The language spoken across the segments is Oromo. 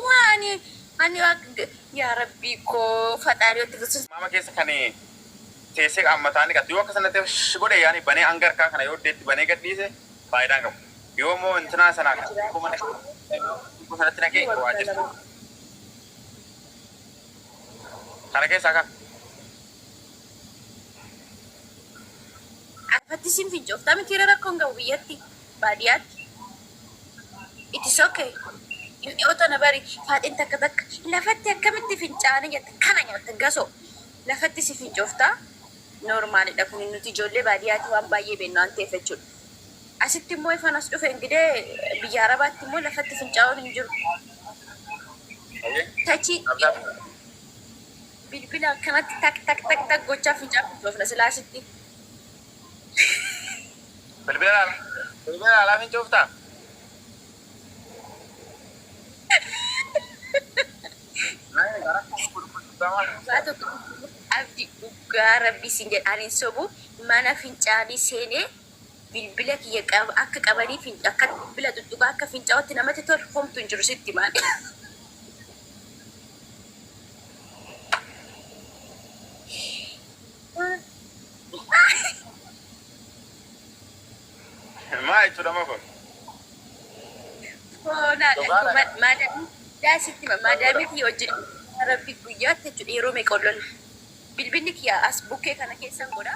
Waan ani yaa rabbii koo fadhaadhi watti fusus. Maama keessa kan teessee qaammataan dhiqatu yoo akka sanatti shi godhe yaani banee hanga harkaa kana yoo deetti banee gadhiise faayidaan qabu. Yoo immoo intinaa sana akkuma dhaqee sanatti naqee waa jirtu. Kana keessaa kan Akkatti isin fincooftaa mitiire rakkoon qabu biyyatti baadiyaatti it is ok inni oto na bari faaxin takka takka lafatti akkamitti fincaani jetta kana nyaatta gasoo lafatti si fincoofta noormaalidha kun nuti ijoollee baadiyaati waan baay'ee beennu waan ta'eef jechuudha asitti immoo ifan as dhufe ingidee biyya arabaatti immoo lafatti fincaa'uun hin jiru tachii Bilbila akkanatti tak tak tak tak gochaa fincaan fincoofna silaa sitti. Bilbila laalaa bilbila laalaa fincooftaa? Nani gara koo gurguddamaa. Dhugaa tokko abdi dhugaa rabbii siin jedha ani hin sobu mana fincaanii seenee bilbila kiyya akka qabanii finc akka bilbila tuttuqaa akka fincaa'utti namatti tolu homtu hin jiru sitti maali. Maa jechuudha ma kun? Foonaa dhaqu maadaamii daa sitti ma maadaamii kiyya wajjin rabbi guyyaatti jechuudha yeroo meeqa ol lolla bilbilli kiyya as bukkee kana keessan godha.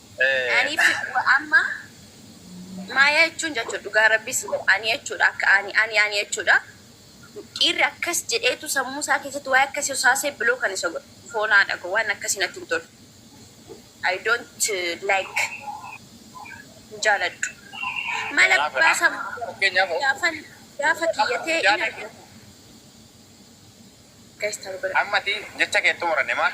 Ani amma maayaa jechuun jechuudha dhugaa rabbii si godha ani jechuudha akka ani ani ani jechuudha dhiirri akkas jedheetu sammuu isaa keessatti waa'ee akkasii usaasee biloo kan isa godha foonaa dhago waan akkasii natti hin tolu I don't uh, like hin jaaladhu mala Kanaaf gubbaa samu fakkeenyaaf gaafan gaafa kiyyatee in yaada argata gaistar godha ammati jecha keettu muranne maal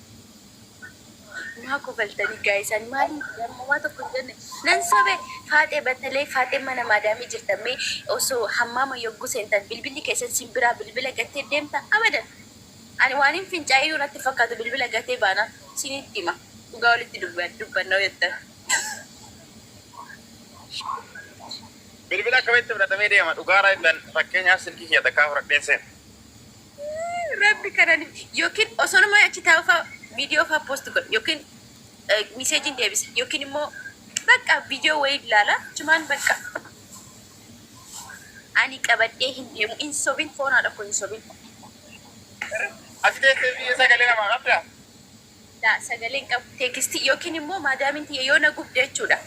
Maa kofaltanii guys ani maali homaa tokko hin jenne nan sobe faaxee battalee faaxee mana maadaamii jirta mee osoo hammaama yogguu seentan bilbilli keessan sin biraa bilbila gattee deemta abadan ani waanin fincaa'eeyyuu natti hin fakkaatu bilbila gatee baana sinitti hima dhugaa walitti dubba- dubbanna yoo jettan Bilbila akkamitti fudhatamee deema? Dhugaadha jettan fakkeenyaaf silkii kiyya takkaa fudhadheen seena. Yaa rabbi kanani yookiin osonumaa achi taa'u faa video faa post godha yookiin message deebisa yookiin immoo bakka video wayii ilaala achumaan bakka ani qabadhee hin deemu hin sobin foon haadha koo hin sobin Ati teessee biyya sagalee namaa qabdaa? laa sagaleen qabu teekisti yookiin immoo maadaamin tiyya yoo na gubde jechuudha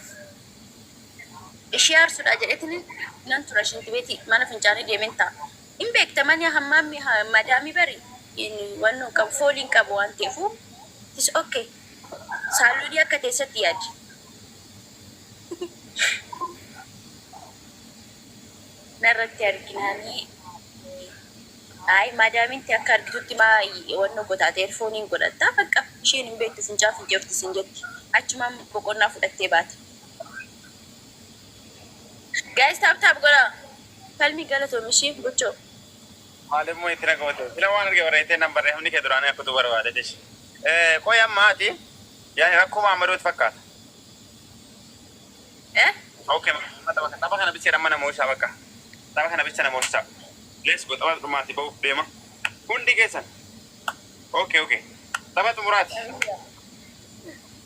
ishee aarsuudha jedhetin nan tura shinti beeti mana fincaanii deemen ta'a Hin beekta mani hammaammi madaami bari wanno qabu fooli hin qabu waan ta'efu it's ok saaluuni akka teessatti yaadi. Narratti arginaani ayi madaamin tee akka argitutti maa wanno gota ati erfooniin godhatta baqqa isheen hin beektu fincaan fincoofti siin jetti achumaan boqonnaa fudhattee baate. Guys tap tap godha. Palmi galatomi shi bucho. Maal immoo itti nagoote sila waan arge barreessee nan barree hamni kee duraanii akkutuu barbaade tish qoy amma ati yaani rakkoo maammadooti fakkaata Eh? okay xaba xaba kana bicha amma na mo'isaa bakka xaba kana bicha na mo'isaa let's go xaba dhumaati ba'uuf deema hundi keessan okay okay xaba xumuraati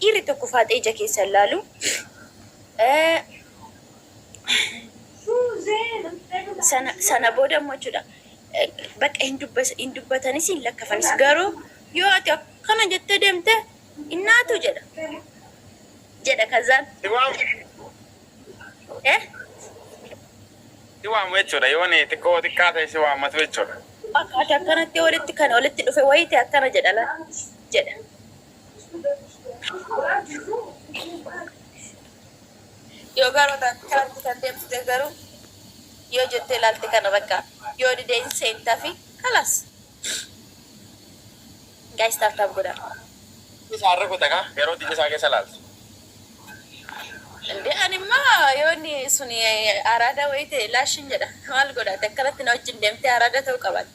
Dhiirri tokko faaxee ija keessa hin laalu. Sana, sana booda immoo jechuudha bakka hin dubbas hin dubbatanis hin lakkafanis garuu yoo ati akkana jettee deemte innaatu jedha jedha kazaan eh si waamu jechuudha yoo ni xiqqoo xiqqaa ta'e si waammatu jechuudha. akka ati akkanatti walitti kan walitti dhufe wayite akkana jedha la jedha. Yoo garuu taate karaatti kan deemtute garuu yoo jettee ilaalte kana bakka yoo didee hin seenta fi kalaas. Gaayis taap taap godha. Isaa irra kuta kaa yeroo dide isaa keessa ilaaltu. Indee ani immoo yoo inni suni araada wayii ta'e laashin jedha. Maal godhaate akkanatti na wajjin deemtee araada ta'uu qabaatte.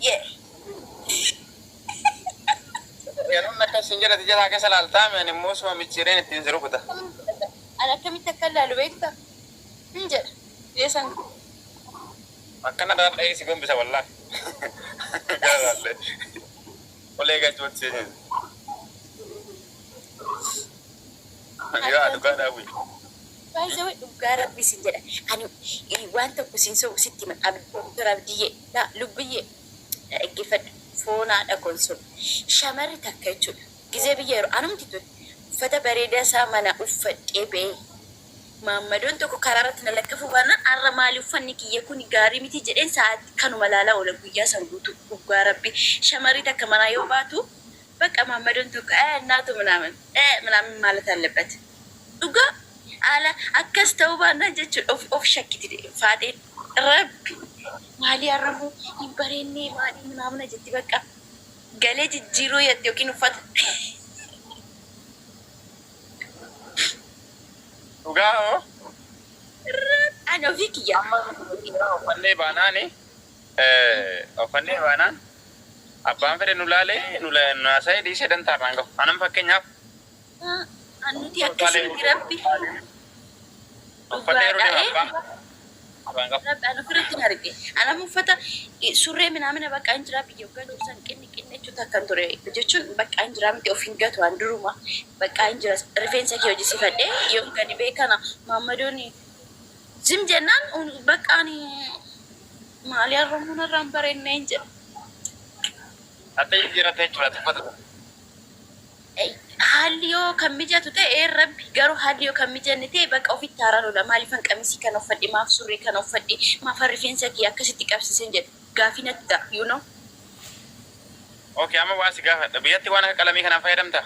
Yeah. Yeroon akkas siin jedhati jalaa keessa laaltaa mi ani immoo suma micciireen ittiin si rukuta. Ani akkamitti akka laalu beekta? Hin jedha. Dhiyeessan. Akkana irraa dhahee si gombisa wallaa. Gara laallee. Olee gachuutti si hin. Yoo dhugaa dhaabuu. By the way dhuggaa rabbi isin jedha ani waan tokko isin sobu sitti hima Doktar Abdiyyee yaa lubbiyyee na dhaggeffadhu foon haadha koon soba shamarri takka jechuudha gizee biyya yeroo anumti tun uffata bareedaa isaa manaa uffadhee ba'ee maammadoon tokko karaa irratti na lakkafuu baannaan har'a maali uffanni kiyya kuni gaarii miti jedheen sa'aatii kanuma ilaalaa oola guyyaa san guutuu dhuggaa rabbi shamarri takka manaa yoo baatu Baqa mamadon tokko ee naatu minaamin ee minaamin maalat allebet dhugaa haala akkas ta'uu baannaan jechuudha of of shakkiti faaxeen rabbi maalii har'ammoo hin bareennee maalii minaamina jetti baqqaa galee jijjiiruu yatti yookiin uffata. Dhugaa hoo? Rabbi ani ofii kiyyaa. Amma nuti dhiiraa uffannee baanaani. Oofannee baanaan abbaan fedhe nu laalee nu haasa'ee dhiisee dantaa irraan gahu. Anan fakkeenyaaf Nuti akkasitti rabbi uffannee yeroo deemu abbaan irraan gahu. Rabbi ana ofirratti hin arge. Anam uffata surree minaamina bakka hin jiraa biyya waggaa jiru san qinni qinni jechuun takka hin ture jechuun bakka hin jiraa miti of hin gatu an duruma bakka hin jira rifeensa kee hojisifadhee yoon gadi bee kana maammadooni Jim jennaan bakka ani maalii arrabuu narraa hin bareennee hin jedhu. Hatta jijjiirrattee jechuudha tuffata. Haalli yoo kan mijatu ta'e rabbi garuu haalli yoo kan mijanne ta'e bakka ofitti haara lola maaliifan qamisii kan uffadhe maaf surree kan uffadhe maafan rifeensa kiyya akkasitti qabsiisen jedhe gaafii natti ta'a you know. Okay amma waan si gaafadha biyyatti waan akka qalamii kanaan fayyadamtaa?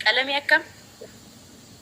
Qalamii akkam?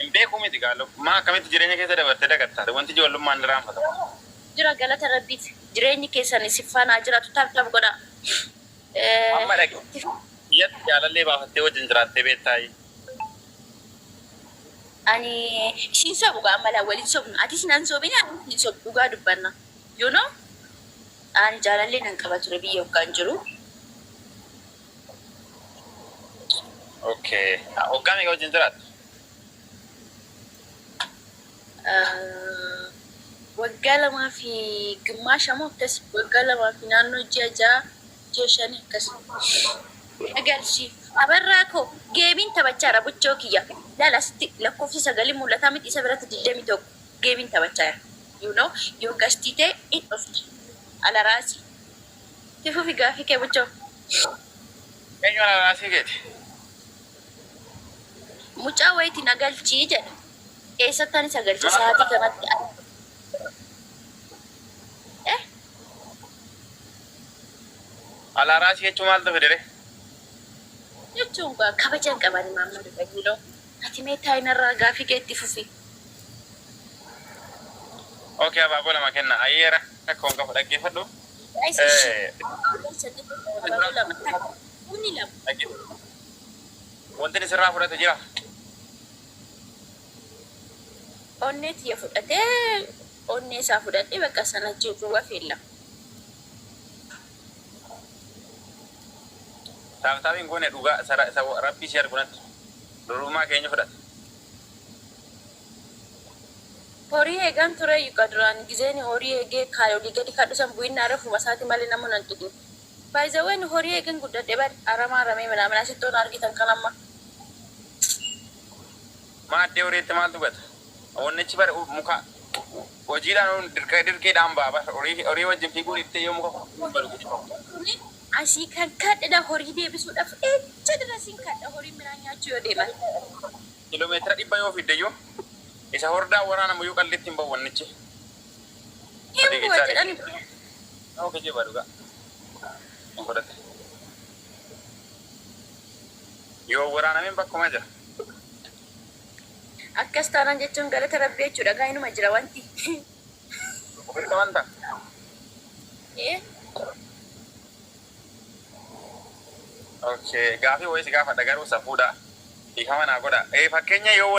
Hin beeku miti kaa love. Maa akkamitti jireenya keessa dabartee dagatta ati wanti ijoollummaan ni raanfatama. Jira galata rabbiif jireenyi keessan isin faana haa jiraatu tap tap godhaa. Amma dhaqi biyyatti jaalallee baafattee wajjin jiraattee beettaayii. Ani isiin sobu gaa amma laa wal hin sobnu atis nan sobini anis hin sobu dhugaa dubbanna you know ani jaalallee nan qaba ture biyya oggaan jiru. Okay. Ah, Waggaa meeqa wajjin jiraattu? Ah, waggaa lamaa fi gimmaasha moo akkas waggaa lamaa fi naannoo ji'a ja'a ji'a shanii akkas Agarsiif. Abarraa koo geemiin taphachaara buchoo kiyya. Laala sitti lakkoofsi sagalii mul'ataa miti isa biratti digdami tokko geemiin taphachaara. You know, yoo gashtii ta'e in dhufti. Alaraasi. Itti fufi gaafii kee buchoo. Eenyu ananaasii keeti? Mucaa wayiti na galchii jedha. Eessatti ani isa galcha sa'aatii kanatti ani. Eh? Alaaraasii jechuu maaltu fidire? Jechuun gaa kabaja hin qabani maamma Dubayiiloo. Ati mee taayinarraa gaafii kee itti fufi. Okay abaaboo lama kenna. Ayyeera. Rakkoon qabu dhaggeeffadhu. Guys, ishi. Afur sadii torbanii lama takka. Kuni lama. Dhaggeeffadhu. Wanti inni sirraa fudhate jira. Onnee tiyya fudhatee onnee isaa fudhadhee bakka sana jirru wafeella. Taaptaabiin goone dhugaa sara- isa rabbii si argu natti. Durbummaa keenya fudhate. Horii eegan tureeyyu ka duraan gizee ani horii eegee kaan olii gadi kadhu san bu'innaa refuma isaati malee namuu nan tuqin. By the way ani horii eegen guddadhe bar aramaa aramee minaamin asittoo na argitan kan amma. Maaddee horiitti maaltu gata? Wannichi bar muka hojiidhaan dirqee dirqiidhaan ba'a bar horii horii wajjin fiiguu dhiiftee yoo muka kuftu hin badu guddifamtu. Ani asii kan kadhedha horii deebisuudhaf echa dirasin kadha horiin midhaan nyaachuu yoo deeman. Kilomeetira dhibba yoo fiigdeyyuu isa hordaan waraanamuyyuu qalliitti hin ba'u wannichi. Fiigichaa dheedhiidha. Nama kijiba dhugaa. Hin fudhate. Yoo hin waraanamin bakkuma jira. Akkas taanaan jechuun galata Rabbii jechuudha kaa inuma jira wanti. Dhukkubbitti amantaa? Ee. Okay. Gaafii wayii si gaafadha garuu safuudha. Dhiifama naa godha. Eh, fakkeenya yoo